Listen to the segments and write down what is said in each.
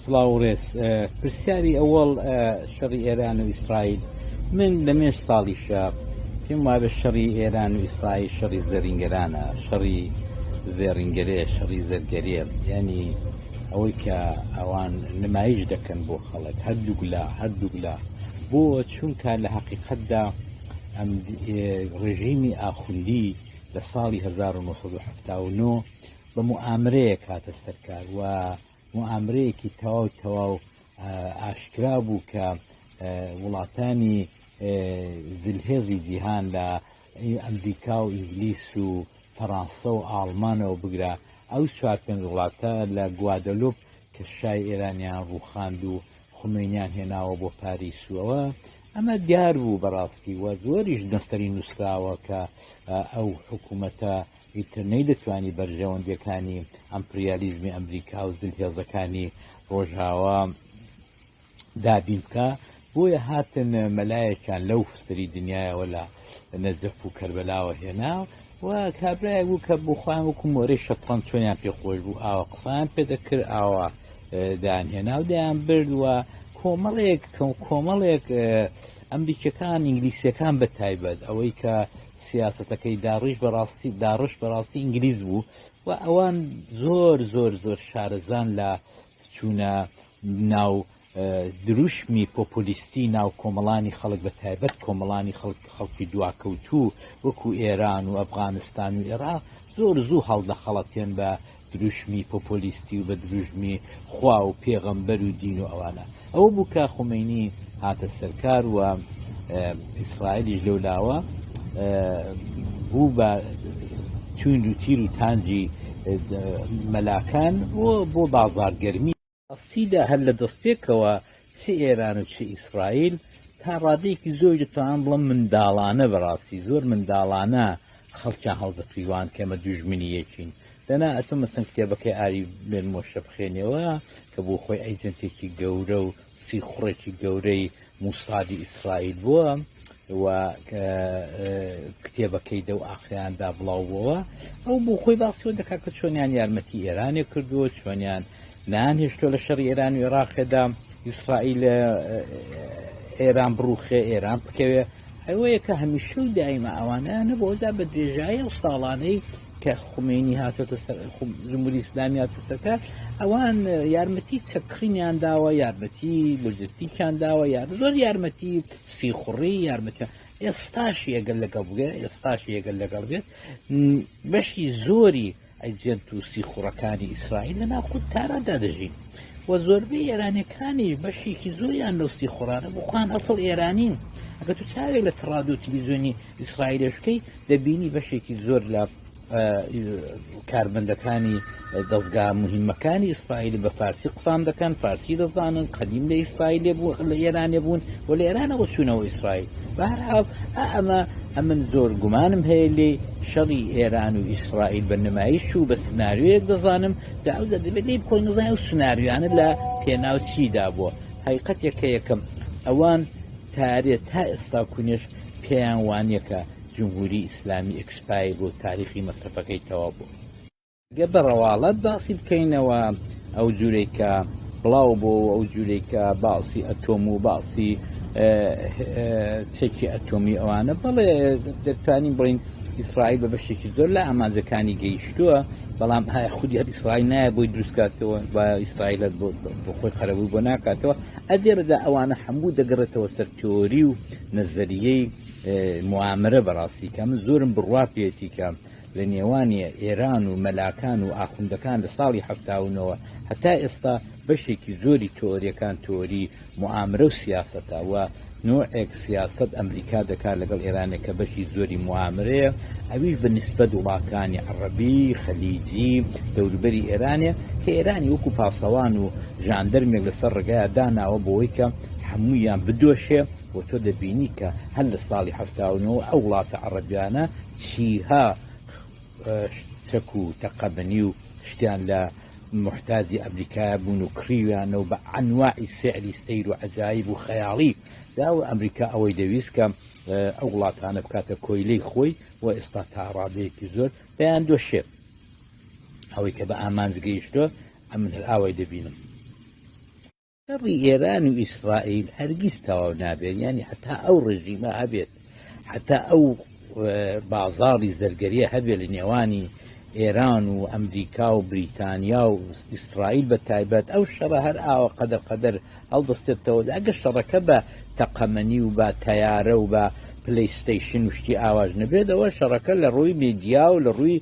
سڵاو و ڕێز پرسیاری ئەوەڵ شەڕی ئێران و ئیسرائیل من لە مێش ساڵی شە پێم وابە شەڕی ئێران و ئیسرائیل شەڕی زەرینگەرانە شەڕی زێڕینگەرێ شەڕی زەرگەرێ ینی ئەوەی کە ئەوان نمایش دەکەن بۆ خەڵک هەردووک لە هەردووک لە بۆ چونکە لە حقیقتدا ئەم ڕژیمی ئاخوندی لە ساڵی 1970 بە موئامرەیەک هاتە سەر کار و موئامرەیەکی تەواو تەواو ئاشکرا بوو کە وڵاتانی زلهێزی جیهان لە ئەمریکا و ئینگلیس و فەڕانسە و ئاڵمانەوە بگرە ئەو چوار پێنج وڵاتە لە گوادەلوپ کە شای ئێرانیان ڕووخاند و خمینیان هێناوە بۆ پاریس و ئەوە ئەمە دیار بوو بەڕاستی وە زۆریش نەستەری نووسراوە کە ئەو حکوومەتە ئیتر نەیدەتوانی بەرژەوەندیەکانی ئەمپریالیزمی ئەمریکا و زلهێزەکانی ڕۆژاوا دابین بکە بۆیە هاتن مەلایەکیان لەو سری دنیایەوە لە نەجەف و کەربەلاوە هێنا و کابراایە بوو کە بخوایان وەکو مۆرەی شەتڕەن چۆنیان پێخۆش بوو ئاوە قسان پێدەکرد ئاوە دایان هێنا و دەیان برد و کۆمەڵێک کەم کۆمەڵێک ئەمریکەکان ئینگلیسیەکان بە تایبەت ئەوەی کە سیاسەتەکەی داڕیش بەڕاستی داڕش بەڕاستی ئینگلیز بوو و ئەوان زۆر زۆر زۆر شارەزان لە چوونە ناو دروشمی پۆپۆلیستی ناو کۆمەڵانی خەڵک بە تایبەت کۆمەڵانی خەڵک خەڵکی دواکەوتوو وەکو ئێران و ئەفغانستان و عێراق زۆر زوو هەڵدەخەڵەتێن بە دروشمی پۆپۆلیستی و بە دروشمی خوا و پێغەمبەر و دین و ئەوانە ئەوە بوو کە خومینی هاتە سەرکار و ئیسرائیلیش لەو لاوە بوو بە توند و تیر و تانجی مەلاکان بۆ بۆ بازارگەرمی ڕاستیدا هەر لە دەستپێکەوە چ ئێران و چ ئیسرائیل تا ڕادەیەکی زۆری دەتوانم بڵێم منداڵانە بەڕاستی زۆر منداڵانە خەڵکیان هەڵدەتویواند کە ئێمە دوژمنی یەکین دەنا ئەتۆ مەسەن کتێبەکەی ئاری بێن مۆشە بخێنەوە کە بۆ خۆی ئەیجنتێکی گەورە و سیخوڕێکی گەورەی موسادی ئیسرائیل بووە و کتێبەکەی دەو ئاخریاندا بڵاو بووە ئەو بۆ خۆی باسیەوە دەکا کە چۆنیان یارمەتی ئێرانێک کردووە چۆنیان نان هێشتۆ لە شەڕی ئێران و عێراقێدا ئیسرائیل ئێران بڕوخێ ئێران بکەوێ ئەوەیە کە هەمیشە و دایمە ئەوانە نەبەوەدا بە درێژایی ئەو ساڵانەی کە خومەینی هاتۆتە سەر جمهوری ئیسلامی هاتە سەرکار ئەوان یارمەتی چەکڕینیان داوە یارمەتی لۆجستیکیان داوە یار زۆر یارمەتی سیخوڕی یارمەتە ئێستاش یەگەر لەگەڵ بگە ئێستاش یەگەر لەگەڵ بێت بەشی زۆری ئەجێنت و سیخوڕەکانی ئیسرائیل لە ناخود تاراندا دەژین و زۆربەی ئێرانەکانی بەشێکی زۆریان لەستی خۆرانە بخوان ئەسڵ ئێرانین ئەگە تو چاوێک لە تەڕاد و تلویزیۆنی ئیسرائیلەشکەی دەبینی بەشێکی زۆر لە کارمەندەکانی دەستگا مهمەکانی ئیسرائیل بە فارسی قسان دەکەن فارسی دەزانن قەدیم لە ئیسرائیل بوو لە ئێرانێ بوون و لە ئێرانەوە چوونەوە ئیسرائیل بەهرحاڵ ئەمە ئەمن زۆر گومانم هەیە لێ شەڕی ئێران و ئیسرائیل بە نمایش و بە سناریوەیەک دەزانم دا ئەو دەبێت لێ بکۆن نزای و سناریوانە لە پێناو چیدا بووە حقیقەتێکە یەکەم ئەوان تارێ تا ئێستا کونێش پێیان وانیە کە جمهوری ئیسلامی ئێکسپایەر بووە و تاریخی مەسرەفەکەی تەواو بووە. گەر بە ڕەواڵەت باسی بکەینەوە ئەو جورەی کە بڵاو بووە و ئەو جورەی کە باسی ئەتۆم و باسی چەکی ئەتۆمی ئەوانە بەڵێ دەتوانین بڵێین ئیسرائیل بە بەشێکی زۆر لە ئامانجەکانی گەیشتووە بەڵام ئایا خودی هەر ئیسرائیل نایە بۆی دروستکاتەوە و ئیسرائیل بۆ خۆی قەرەبووی بۆ ناکاتەوە ئەدێرەدا ئەوانە هەموو دەگەڕێتەوە سەر تیۆری و نەزەریەی موامرە بەڕاستی کە من زۆرم بڕوا پێێتی کە لە نێوانی ئێران و مەلاکان و ئاخوندەکان لە ساڵی هەفتاونەوە هەتا ئێستا بەشێکی زۆری تۆریەکان تۆری موامرە و سیاستە و نوعێک سیاست ئەمریکا دەکات لەگەڵ ئێرانێک کە بەشی زۆری موامرەیە ئەویش بە نسبەت وڵاتانی عڕبی خەلیجی دەوروبەری ئێرانێ کە ئێرانی وەکو پاسەوان و ژاندەرمێک لەسەر ڕگایە داناوە بۆی کە هەموویان بدۆشێ و تۆ دەبینی کە هەر لە ساڵی حەفتا و نۆ ئەو وڵاتە عەڕەبیانە چیها چەک و تەقەمەنی و شتیان لە موحتاجی ئەمریکایە بوون و کڕیویانە و بە ئەنواعی سیعری سەیر و عەجایب و خەیاڵی دا و ئەمریکا ئەوەی دەویست کە ئەو وڵاتانە بکاتە کۆیلەی خۆی و ئێستا تا ڕادەیەکی زۆر دەیان دۆشێت ئەوەی کە بە ئامانج گەیشتوە ئەمن هەر ئاوای دەبینم شەڕی ئێران و ئیسرائیل هەرگیز تەواو نابێت یانی حتا ئەو ڕژیمە هەبێت حتا ئەو بازاڕی زەرگەریە هەبێت لە نێوانی ئێران و ئەمریکا و بریتانیا و ئیسرائیل بە تایبەت ئەو شەڕە هەر ئاوە قەدەر قەدەر هەڵدەستێتەوە ئەگە شەڕەکە بە تەقەمەنی و بە تەیارە و بە پلیستەیشن شتی ئاواش نەبێتەوە شەڕەکە لە ڕووی میدیا و لە ڕووی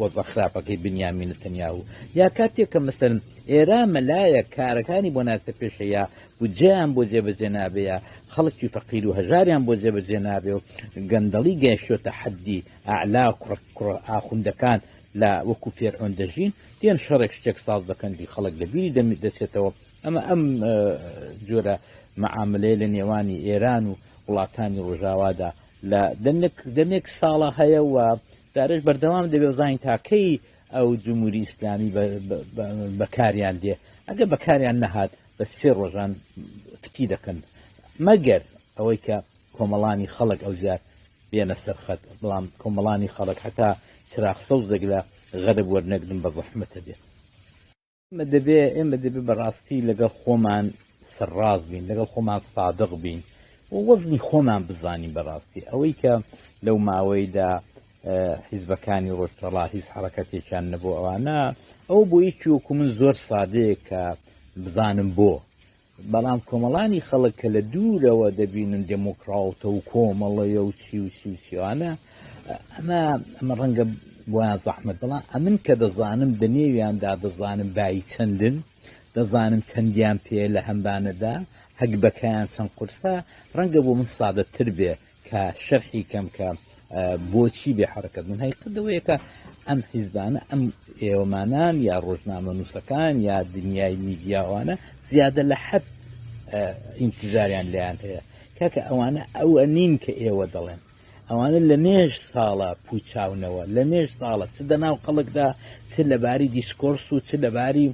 وەزعە خراپەکەی بنیامین نتەنیاهو یا کاتێک کە مەسەلەن ئێرا مەلایە کارەکانی بۆ ناچە پێشەیە بودجەیان بۆ جێبەجێ نابێە خەڵکی فەقیر و هەژاریان بۆ جێبەجێ نابێ و گەندەڵی گەیشتۆتە حەدی ئەعلا و کوڕ کوڕ ئاخوندەکان لە وەکو فێرعۆن دەژین دێن شەڕێک شتێک ساز دەکەن دی خەڵک لە بیری دەمی دەچێتەوە ئەمە ئەم جۆرە معاملەیە لە نێوانی ئێران و وڵاتانی ڕۆژاوادا لە دەمێک دەمێک ساڵە هەیە و دارێش بەردەوام دەبێ بزانین تا کەی ئەو جمهوری ئیسلامی بەکاریان دێ ئەگە بەکاریان نەهات بە سێ ڕۆژان فتی دەکەن مەگەر ئەوەی کە کۆمەڵانی خەڵک ئەوجار بێنە سەرخەت بەڵام کۆمەڵانی خەڵک حتا چراخ سەوز دەگرە غەرب وەرنەگرن بە زەحمەتە بێت دەبێ ئێمە دەبێ بەڕاستی لەگەڵ خۆمان سەرڕاست بین لەگەڵ خۆمان سادق بین و وەزنی خۆمان بزانین بەڕاستی ئەوەی کە لەو ماوەیدا حیزبەکانی ڕۆژتەڵا هیچ حرەکەتێکیان نەبوو ئەوانە ئەو بۆ یەکی وەکو من زۆر سادەیە کە بزانم بۆ بەڵام کۆمەڵانی خەڵک کە لە دوورەوە دەبینن دێمۆکڕاوتە و کۆمەڵەیە و چی و چی و چی وانە، ئەمە ئەمە ڕەنگە بۆیان زەحمەت، بەڵام ئەمن کە دەزانم دە نێویاندا دەزانم بایی چەندن، دەزانم چەندیان پێیە لە هەمبانەدا، هەگبەکەیان چەند قورسە، ڕەنگە بۆ من سادەتر بێ کە شەرحی کەم کە بۆچی بێ حرەکەت من هەی قدەوەیەکە ئەم حیزبانە ئەم ئێوەمانان یا ڕۆژنامە نووسەکان یا دنیای میدیاوانە زیادە لە حەب ئینتزاریان لیان هەیە کاکە ئەوانە ئەوە نین کە ئێوە دەڵێن ئەوانە لە مێژ ساڵە پوچاونەوە لە مێژ ساڵە چ دەناو خەڵکدا چ لەباری دیسکۆرس و چ لەباری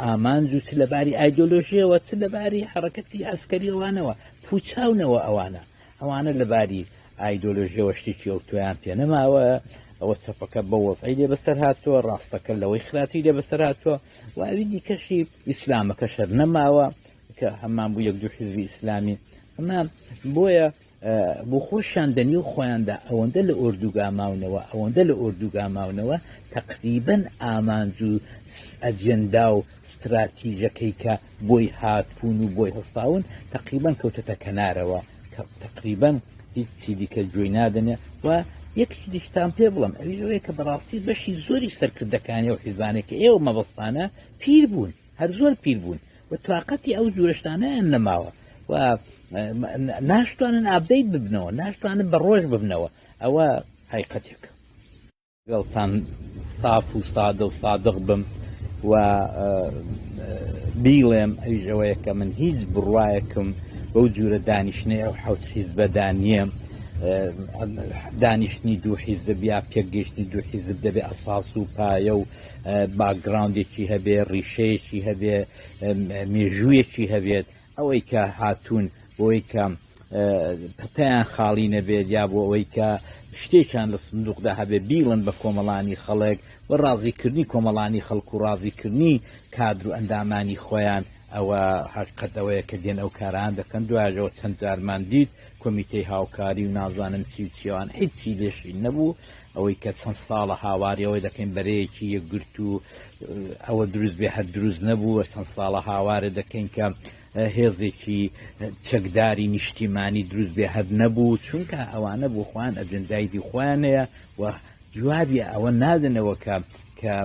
ئامانج و چ لەباری ئایدۆلۆژیەوە چ لەباری حرەکەتی ئەسکەریەوانەوە پوچاونەوە ئەوانە ئەوانە لە باری ئایدۆلۆژیەوە شتێکی ئەوتۆیان پێ نەماوە ئەوە چەپەکە بە وەزعی لێ بەسەر هاتووە ڕاستەکە لەوەی خراپی لێ بەسەر هاتووە و ئەوی دیکەشی ئیسلامەکە شەر نەماوە کە هەمان بوو یەک دوو حزبی ئیسلامی ئەمە بۆیە بۆ خۆشیان دەنی و خۆیاندا ئەوەندە لە ئۆردوگا ماونەوە ئەوەندە لە ئۆردوگا ماونەوە تقریبن ئامانج و ئەجێندا و استراتیژەکەی کە بۆی هاتوون و بۆی هەستاون تەقریبەن کەوتۆتە کەنارەوە کە تەقریبەن هیچ چی دیکە گوێی نادەنێ و یەکشی دیشتان پێ بڵم ئەوی ئەوەیە کە بەڕاستی بەشی زۆری سەرکردەکانی و حیزبانێک کە ئێوە مەبەستانە پیر بوون هەر زۆر پیر بوون و تااقەتی ئەو جورشتانیان نەماوە و ناشتوانن ئابدەیت ببنەوە ناشتوانن بە ڕۆژ ببنەوە ئەوە حیقەتێکە لەگەڵتان ساف و سادە و سادق بم و بیڵێم ئەویش ئەوەیە کە من هیچ بڕواەکم بەو جورە دانیشتنی ئەو حوت حیزبەدا نییە دانیشتنی دوو حیزب یا پێگەشتنی دوو حیزب دەبێ ئەساس و پایە و باگراندێکی هەبێ ڕیشەیەکی هەبێ مێژوویەکی هەبێت ئەوەی کە هاتوون بۆی کە پەتیان خاڵی نەبێت یا بۆ ئەوەی کە شتێکیان لە سندوقدا هەبێ بیڵن بە کۆمەڵانی خەڵک و ڕازیکردنی کۆمەڵانی خەڵک و ڕازیکردنی کادر و ئەندامانی خۆیان ئەوە هەقیقەت ئەوەیە کە دێن ئەو کاران دەکەن دوایەوە چەند جارمان دیت کۆمیتەی هاوکاری و نازانم چی و چیوان هیچی لێشی نەبوو ئەوەی کە چەند ساڵە هاواری ئەوە دەکەین بەرەیەکی یەکگرتوو ئەوە دروست بێ هەر دروست نەبووە چەند ساڵە هاوارە دەکەین کە هێزێکی چەکداری نیشتیمانی دروست بێ هەر نەبوو چونکە ئەوانە بۆ خۆیان ئەجندایدی خۆیانەیە و جوابی ئەوە نادنەوە کە کە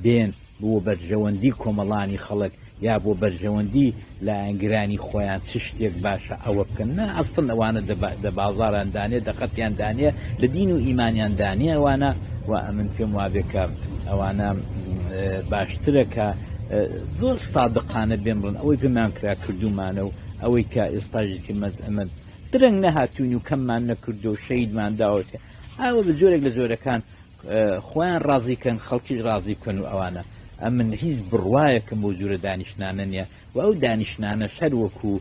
دێن بۆ بەرژەوەندی کۆمەڵانی خەڵک یا بۆ بەرژەوەندی لایەنگرانی خۆیان چ شتێک باشە ئەوە بکەن نا ئەستن ئەوانە دە بازاران دانێ دەقەتیان دانێ لە دین و ئیمانیان دانێ ئەوانە و ئەمن پێم وابێکە ئەوانە باشترە کە زۆر سادقانە بێمڕن ئەوەی پێمان کرا کردومانە و ئەوەی کە ئێستاژێکی مەد ئەمەد درەنگ نەهاتوین و کەممان نەکردو شەیدمان داوەێ ئەوە بە جۆرێک لە جۆرەکان خۆیان ڕازی کەن خەڵکیش ڕازی بکەن و ئەوانە ئەمن هیچ بڕوایەکم بۆ جورە دانیشتنانە نیە و ئەو دانیشتنانە شەر وەکو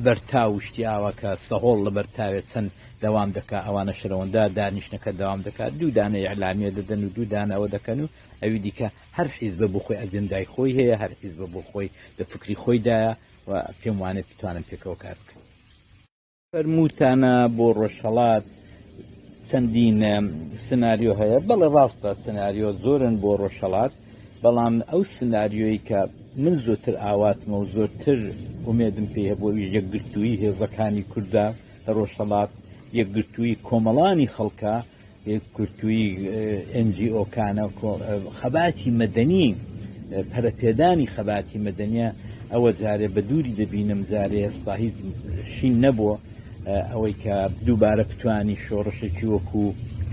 بەرتا و شتیاوە کە سەهۆڵ لە بەرتاوێت چەند دەوام دەکا ئەوانە شەرەوەندا دانیشتنەکە دەوام دەکات دوو دانە ئیعلامیە دەدەن و دوو دانە ئەوە دەکەن و ئەوی دیکە هەر حیزبە بۆ خۆی ئەجندای خۆی هەیە هەر حیزبە بۆ خۆی لە فکری خۆیدایە و پێم وانێت بتوانن پێکەوە کار بکەن فەرمووتانە بۆ ڕۆژهەڵات چەندین سناریۆ هەیە بەڵێ ڕاستە سناریۆ زۆرن بۆ ڕۆژهەڵات بەڵام ئەو سناریۆی کە من زۆتر ئاواتمە و زۆرتر ئومێدم پێ هەبوو یەکگرتووی هێزەکانی کووردا لە ڕۆژهەڵات یەکگرتووی کۆمەڵانی خەڵکە یەکگرتووی ئێن جی ئۆکانە خەباتی مەدەنی پەرەپێدانی خەباتی مەدەنیە ئەوە جارێ بە دووری دەبینم جارێ ئێستا هیچ شین نەبووە ئەوەی کە دووبارە بتانی شۆڕشێکی وەکو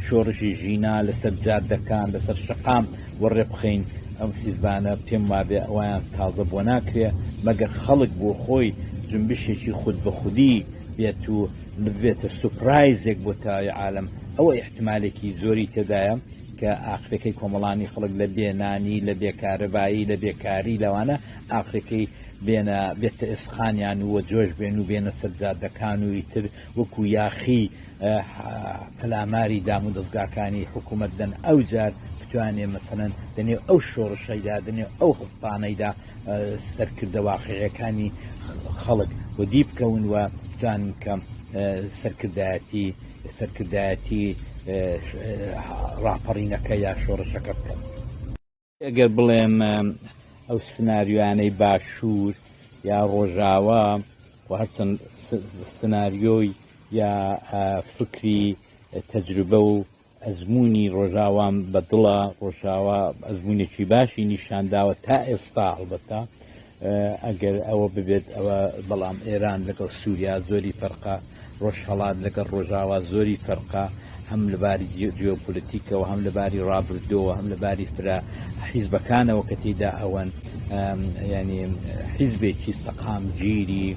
شۆڕشی ژینا لەسەر جادەکان لەسەر شقام و ڕێبخەین ئەم حیزبانە پێم وابێ ئەویان تازە بۆ ناکرێ مەگەر خەڵک بۆ خۆی جنبشێکی خود بە خودی بێت و ببێتە سوپرایزێک بۆ تەواوی عالەم ئەوە ئیحتمالێکی زۆری تێدایە کە ئاخرەکەی کۆمەڵانی خەڵک لە بێ نانی لە بێ کارەبایی لە بێکاری لەوانە ئاخرەکەی بێنە بێتە ئێسقانیان وە جۆش بێن و بێنە سەرجادەکان و ئیتر وەکو یاخی پەلاماری دام و دەستگاکانی حکوومەت دەن ئەو جار بتوانێ مەسەەن دەنێ ئەو شۆڕشەیدا دەنێ ئەو هەستانەیدا سەرکردە واقعیەکانی خەڵک و دی بکەون و بتوان کە سەرکردایەتی سەرکردایەتی ڕاپەڕینەکە یا شۆڕشەکە بکەن ئەگەر بڵێم ئەو سناریوانەی باشوور یا ڕۆژاوا و هەرچەند سناریۆی یا فکری تەجروبە و ئەزموونی ڕۆژاوام بە دڵە ڕۆژاوا ئەزمونێکی باشی نیشانداوە تا ئێستا هەڵبەتە ئەگەر ئەوە ببێت ئەوە بەڵام ئێران لەگەڵ سووریا زۆری فەرقا ڕۆژهڵات لەگەڵ ڕۆژاوا زۆری فەرقا هەم لەباری جیۆپولتیکەوە هەم لەباری ڕابردەوە هەم لەباری فرە حیزبەکانەوە کە تێدا ئەوەن یانی حیزبێکی سەقامگیری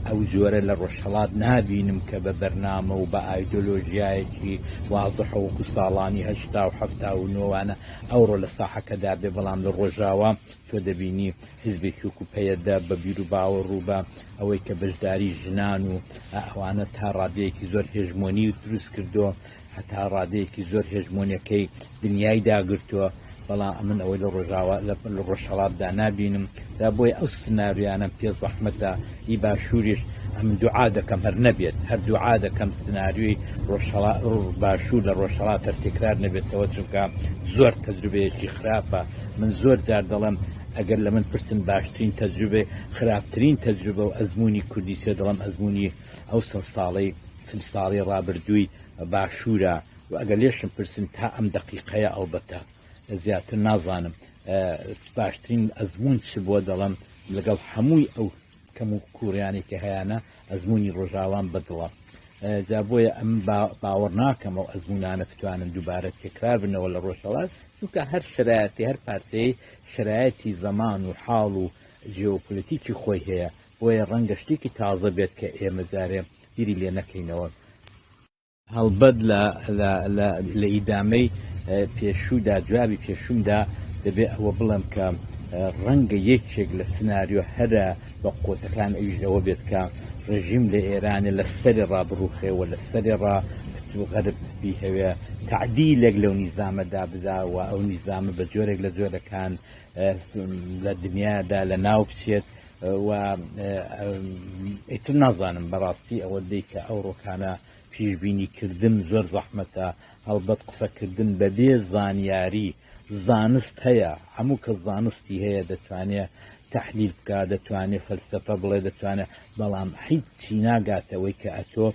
ئەو جۆرە لە ڕۆژهەڵات نابینم کە بە بەرنامە و بە ئایدۆلۆژیایەکی وازحە وەکو ساڵانی هەشتا و حەفتا و نۆوانە ئەوڕۆ لە ساحەکەدا بێ بەڵام لە ڕۆژاوا تۆ دەبینی حیزبێکی وکو پەیەدە بە بیر و باوە ڕووبە ئەوەی کە بەشداری ژنان و ئەوانە تا ڕادەیەکی زۆر هێژمۆنی دروست کردو هەتا ڕادەیەکی زۆر هێژمۆنیەکەی دنیای داگرتووە، بەڵام ئەمن ئەوەی لە ڕۆژاوا لە ڕۆژهەڵاتدا نابینم، جا بۆیە ئەو سناریۆیانەم پێ زەحمەتە، هی باشووریش ئەمن دوعا دەکەم هەر نەبێت، هەر دوعا دەکەم سناریۆی ڕۆژهەڵات باشوور لە ڕۆژهەڵات هەر تێکرار نەبێتەوە، چونکە زۆر تەجروبەیەکی خراپە، من زۆر جار دەڵێم ئەگەر لە من پرسن باشترین تەجروبەی خراپترین تەجروبە و ئەزموونی کوردی چیە دەڵێم ئەزموونی ئەو سەد ساڵەی چل ساڵەی ڕابردووی باشوورە و ئەگەر لێشم پرسن تا ئەم دەقیقەیە ئەڵبەتە زیاتر نازانم باشترین ئەزمون چ بووە دەڵم لەگەڵ هەمووی ئەو کەم و کوڕیانی کە هەیەە ئەزمموی ڕۆژاوان بەدڵە جا بۆیە ئەم باوەڕ ناکەم و ئەزمونانە بتوانن دووبارە تێکرار بنەوە لە ڕۆژەڵات چونکە هەر شرایەتی هەر پارچەی شرایەتی زەمان و حاڵ و جیۆپولتیکی خۆی هەیە بۆیە ڕەنگە شتێکی تازە بێت کە ئێمە جارێ بیری لێ نەکەینەوە. هەڵبەت لە لە لە لە ئیدامەی پێشوودا جوابی پێشوومدا دەبێ ئەوە بڵێم کە ڕەنگە یەکێک لە سناریۆ هەرە بە قووتەکان ئەویش ئەوە بێت کە ڕێژیم لە ئێرانێ لە سەرێ ڕا بڕووخێ و لە سەرێ ڕا کت و غەرب بیهەوێ تەعدیلێک لەو نیزامە دا بدا و ئەو نیزامە بە جۆرێک لە جۆرەکان لە دنیادا لە ناو بچێت و ئیتر نازانم بەڕاستی ئەوە دەی کە ئەو ڕۆکانە پیشبینی کردن زۆر زەحمەتە هەڵبەت قسەکردن بەبێ زانیاری زانست هەیە هەموو کە زانستی هەیە دەتوانێت تحلیل بکە دەتوانێت فەلسفە بڵێ دەتوانێت بەڵام حیت چی ناگاتەوەی کە ئەتۆ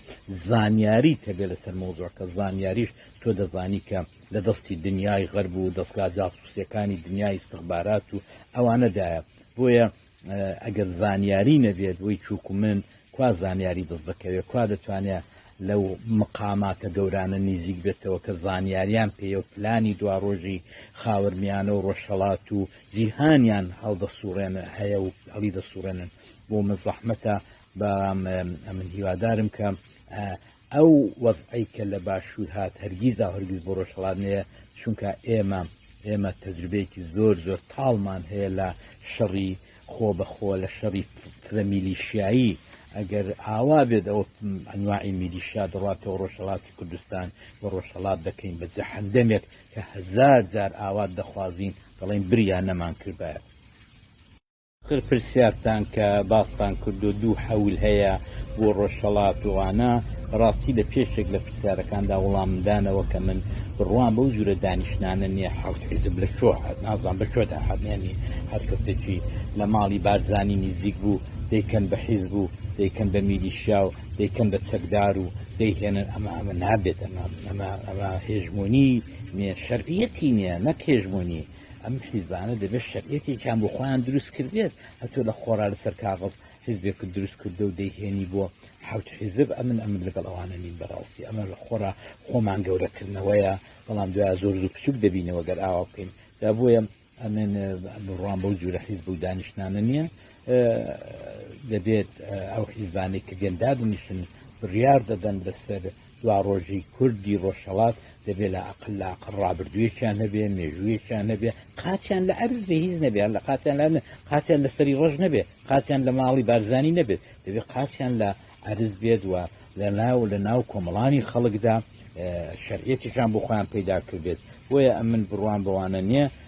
زانیاری تەبێ لەسەر مۆزۆکە زانیاریش تۆ دەزانی کە لە دەستی دنیای غەرب و دەستگا جاسوسەکانی دنیای استخبارات و ئەوانەدایە بۆیە ئەگەر زانیاری نەبێت وەی چوک و من کوا زانیاری دەست دەکەوێت کوا دەتوانێت لەو مقاماتە گەورانە نیزیک بێتەوە کە زانیاریان پێە و پلانی دوا ڕۆژی خاورمیانە و ڕۆژهڵات و جیهانیان هەڵدەسوڕێن هەیە و هەڵی دەسوڕێنن بۆ مەزەحمەتە بەڵام من هیوادارم کە ئەو وەزعەی کە لە باشوور هات هەرگیز و هەرگیز بۆ ڕۆژهەڵات نەیە، چونکە ئێمە ئێمە تەجروبەیەکی زۆر زۆر تاڵمان هەیە لە شەڕی خۆ بە خۆ لە شەڕی فرە میلیشیایی، ئەگەر ئاوا بێت ئەوە ئەنواعی میلیشیا دەڕاتەوە ڕۆژهەڵاتی کوردستان و ڕۆژهەڵات دەکەین بە جەحەندەمێک کە هەزار جار ئاوات دەخوازین دەڵێین بریا نەمان کردبایە. تر پرسیارتان کە باستان کردووە دوو حەول هەیە بۆ ڕۆژهەڵات و ڕانا بەڕاستی لە پێشێک لە پرسیارەکاندا وڵامم دانەوە کە من بڕوام بەو جورە دانیشتنانە نییە حەوت حیزب لە کوێوە هات نازانم بە کوێدا هات یانی هەر کەسێکی لە ماڵی بارزانی نزیک بوو دەیکەن بە حیزب و دەیکەن بە میلیشیا و دەیکەن بە چەکدار و دەیهێنن ئەمە ئەمە نابێت ئەمە ئەمە ئەمە هێژمۆنی نیە شەرعیەتی نیە نەک هێژمۆنی ئەم حیزبانە دەبێت شەرعەتێکیان بۆ خۆیان دروست کردێت هەتۆ لە خۆرا لەسەر کاغڵ حزبێکت دروست کردو و دەیهێنی بۆ حوت حیزب ئەمن ئەمن لەگەڵ ئەوانە نین بەڕاستی ئەمە لە خۆرا خۆمان گەورەکردنەوەیە بەڵام دوای زۆر زوو بچوک دەبینەوە گەر ئاوا بکەین دا بۆیە ئەمن بڕوان بەو جورە حیزب و دانیشتانە نییە دەبێت ئەو حیزبانێک کە گەندادنیشن بڕیار دەدەن بەسەر دواڕۆژی کوردی ڕۆژهەڵات دەبێ لااقل لااقل ڕابردوویەکیان هەبێ، مێژوویەکیان هەبێ، قاچیان لە عەرز بێ، هیچ نەبێ، هەر لە قاچیان لە عەرز نەبێ، قاچیان لە سەری ڕەش نەبێ، قاچیان لە ماڵی بارزانی نەبێت، دەبێ قاچیان لە عەرز بێت و لە ناو لە ناو کۆمەڵانی خەڵکدا شەرعیەتێکیان بۆ خۆیان پەیدا کردبێت، بۆیە ئەمن بڕوام بەوانە نییە،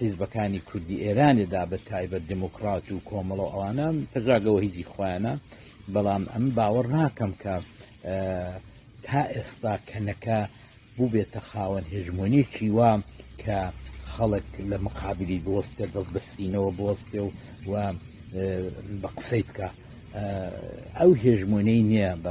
حیزبەکانی کوردی ئێرانێ دا بە تایبەت دێمۆکڕات و کۆمەڵە و ئەوانە پەژاگەوە هیچی خۆیانە بەڵام ئەم باوەڕ ناکەم کە تا ئێستا کەنەکە بووبێتە خاوەن هێژمۆنیکی وا کە خەڵک لە مقابلی بۆستە دڵ بەسینەوە بۆستێ و و بە قسەی بکە ئەو هێژمۆنەی نییە بە